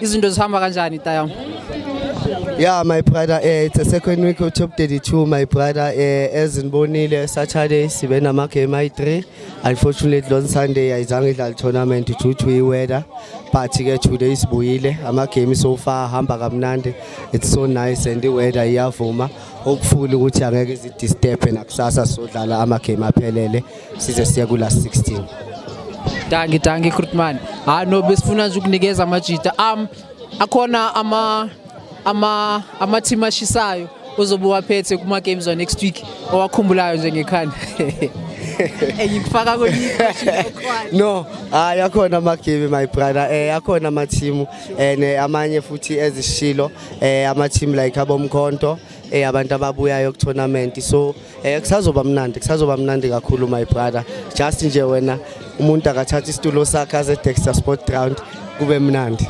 izinto zihamba kanjani tayam Yeah, my brother, uh, it's the second week of top 32, my brother. Uh, as in Bonile, Saturday, sibe nama game ayi-3. Unfortunately, on Sunday, ayizange idlala tournament due to i-weather. But ke today sibuyile, ama-game so far hamba kamnandi. It's so nice and i-weather iyavuma. Hopefully ukuthi angeke zidisturbe nakusasa sodlala ama-game aphelele. size siye kula 16 danki danki krutman hayi no besifuna nje ukunikeza amajita um akhona ama ama ama team ashisayo uzobe waphethe kuma games wa next week owakhumbulayo nje ngekhanda engikufaka no hayi ah, akhona amagame my brother eh akhona amathimu and eh, amanye futhi ezishilo eh amathimu like abomkhonto eh abantu ababuyayo ku tournament so Eh kusazoba mnandi kusazoba mnandi kakhulu my brother just nje wena umuntu akathatha isitulo sakhe aze Dexter Sport Ground kube mnandi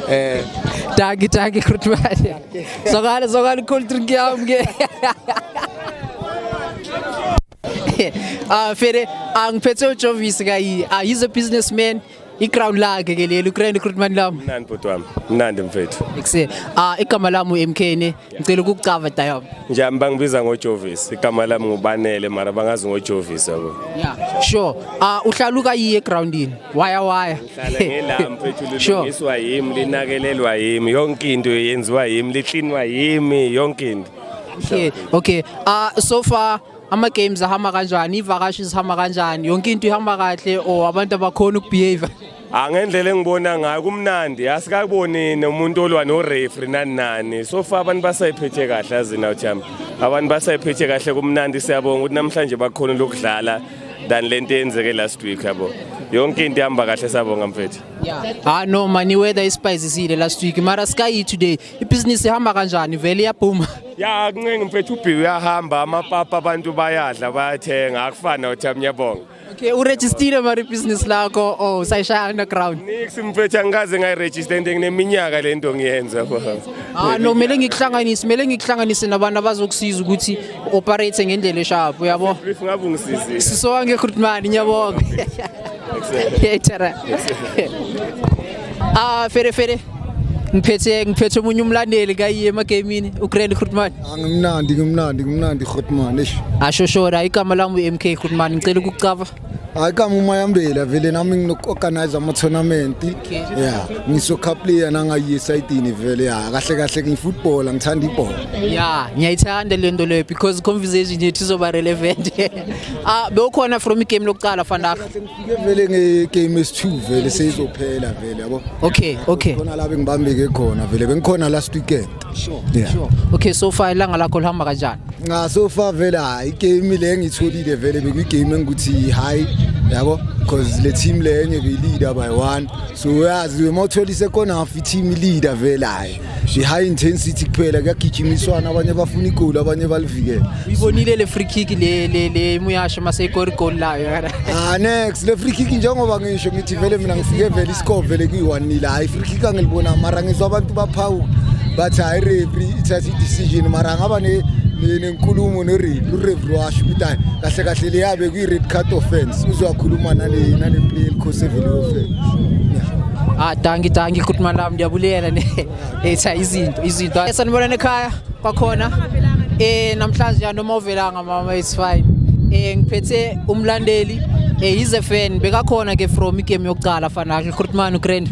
eh dagi dagi khutbani sokale sokale cool drink yam ke ah fere angiphethe uJovis kayi ah he's a businessman iground lakhe ke leli uGrand Recruitment Lab mnandi bhuti wami mnandi mfethu ekuse ah igama lami uMK ne ngicela ukukucava dayom nje bangibiza ngoJovis igama lami ngubanele mara bangazi ngoJovis yabo yeah sure ah uhlaluka yiye groundini waya waya ngihlala ngela mfethu lilungiswa yimi linakelelwa yimi yonke into yenziwa yimi liclinwa yimi yonke into okay okay ah so far ama-games ahamba kanjani iy'vakashi zihamba kanjani yonke into ihamba kahle or abantu abakhona ukubehave angendlela ah, engibona ngayo kumnandi asikaboni nomuntu olwa norefri nani nani so far abantu basayiphethe kahle azina ujama abantu basayiphethe kahle kumnandi siyabonga ukuthi namhlanje bakhona lokudlala than le nto eyenzeke last week yabo yonke into ihamba kahle sabonga mfethu ha no mani weather ispicesile last week mara sky today ibhizinisi ihamba kanjani vele iyaphuma ya kuncenga mfethu ubhi uyahamba amapapa abantu bayadla bayathenga akufani nothi amnyabonga okay uregistile mari business lakho oh sayishaya underground nix mfethu angikaze ngayiregister into ngineminyaka le nto ngiyenza ah no kumele ngikuhlanganise kumele ngikuhlanganise nabantu abazokusiza ukuthi operate ngendlela esharp uyabo ngabe ungisizile sisowange khutmani ngiyabonga Echara. Ah, fere fere. Ngiphethe ngiphethe umunye umlandeli kayi emagamini uGrand Grootman. Angimnandi ngimnandi ngimnandi Grootman eish. Ashoshora igama lami uMK Grootman ngicela ukucava. Hayi kama uma yambela vele nami nginokuorganize ama tournament. Yeah, ngiso cup player nanga USID ni vele ya kahle kahle ngifootball ngithanda ibhola. Yeah, ngiyayithanda lento leyo because conversation yethu izoba relevant. Ah bewukhona from igame lokuqala Vandag. Ngifike vele ngegame esi2 vele seyizophela vele yabo. Okay, okay. Khona la bengibambeke khona vele bengikhona last weekend. Sure. Yeah. Sure. Okay, so far ilanga lakho lihamba kanjani? Nga so far vele hayi game le ngitholile vele bekuyigame engikuthi hayi yabo because le team lenye beyilida by one so uyazi uma utholise khona half i-team leader vele hayi nje high intensity kuphela kuyagijimiswana abanye bafuna igoli abanye balivikele uyibonile le free kick le le le muyasho mase igori goal layo kana ah next le free kick njengoba ngisho ngithi vele mina ngifike vele iscore vele kuyi 1 nil hayi free kick angilibona mara ngizwa abantu baphawu bathi hayi referee ithatha i decision mara ngaba ne inkulumo noreferee washo ukuthi hayi kahle kahle leya bekuyi-red card offense uzowakhuluma nale play elikhosi evele offense Ah danki danki good man lam ndiyabulela ne etha izinto izinto esanibonana ekhaya kwakhona eh namhlanje noma uvelanga mama it's fine eh ngiphethe umlandeli eh he's a fan bekakhona ke from igame yokuqala fana ke Grootman uGrand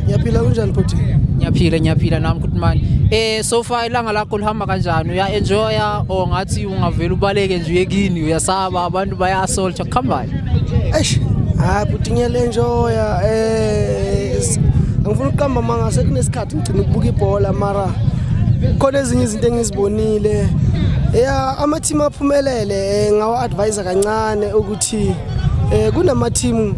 Ngiyaphila kunjani bhuti Ngiyaphila ngiyaphila nami Grootman eh so far ilanga lakho lihamba Uyaphepha kanjani? Uya enjoya or ngathi ungavela ubaleke nje uye kini uyasaba abantu baya assault kuhambani? Eish, hayi bhuti ngiyale enjoya eh s- angifuni ukuqamba manga sekunesikhathi ngigcina ukubuka ibhola mara khona ezinye izinto engizibonile ya ama team aphumelele eh, ngawa advisor kancane ukuthi eh, kunama team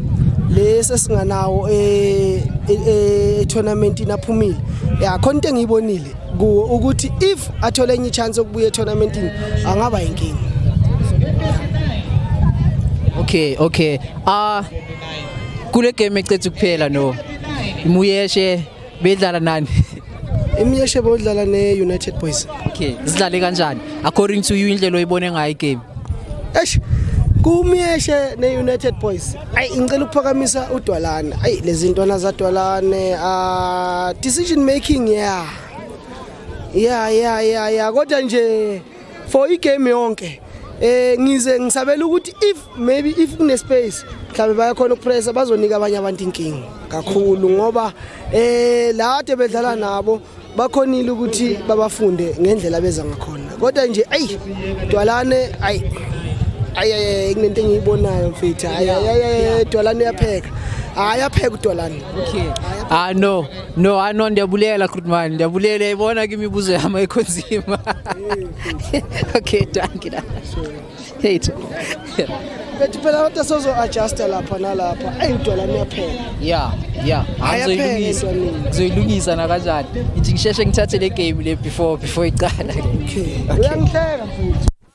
lesi esinganawo eh, eh, eh, tournament inaphumile ya khona into engiyibonile kuwo ukuthi if athole enye chance yokubuya etournamentini angaba inkinga okay okay ah uh, kule game ecethe kuphela no imuyeshe bedlala nani imuyeshe bodlala ne United Boys okay sidlale kanjani according to you indlela oyibone ngayo igame eish kumuyeshe ne United Boys ayi ngicela ukuphakamisa udwalane ayi lezi ntwana zadwalane uh, decision making yeah yeah yeah yeah yeah kodwa nje for igame yonke eh ngize ngisabela ukuthi if maybe if kune space mhlawumbe bayakhona ukupressa bazonika abanye abantu inkinga kakhulu ngoba eh la ade bedlala nabo bakhonile ukuthi babafunde ngendlela beza ngakhona kodwa nje ayi dwalane ayi ayi kunento engiyibonayo mfethu ayi ayi dwalane uyapheka hayi apheke udolani okay ah no no ah no ndiyabulela krutman ndiyabulela yayibona ke imibuzo yami ekhonzima okay dankie Hate. Bethi phela abantu asozo adjusta lapha nalapha. Ayi udwala niyaphela. Yeah, yeah. Ayaphela Angizoyilungisa. into nini. Ngizoyilungisa na kanjani? Ngithi ngisheshe ngithathe le game le before before iqala. Okay. Uyangihleka futhi.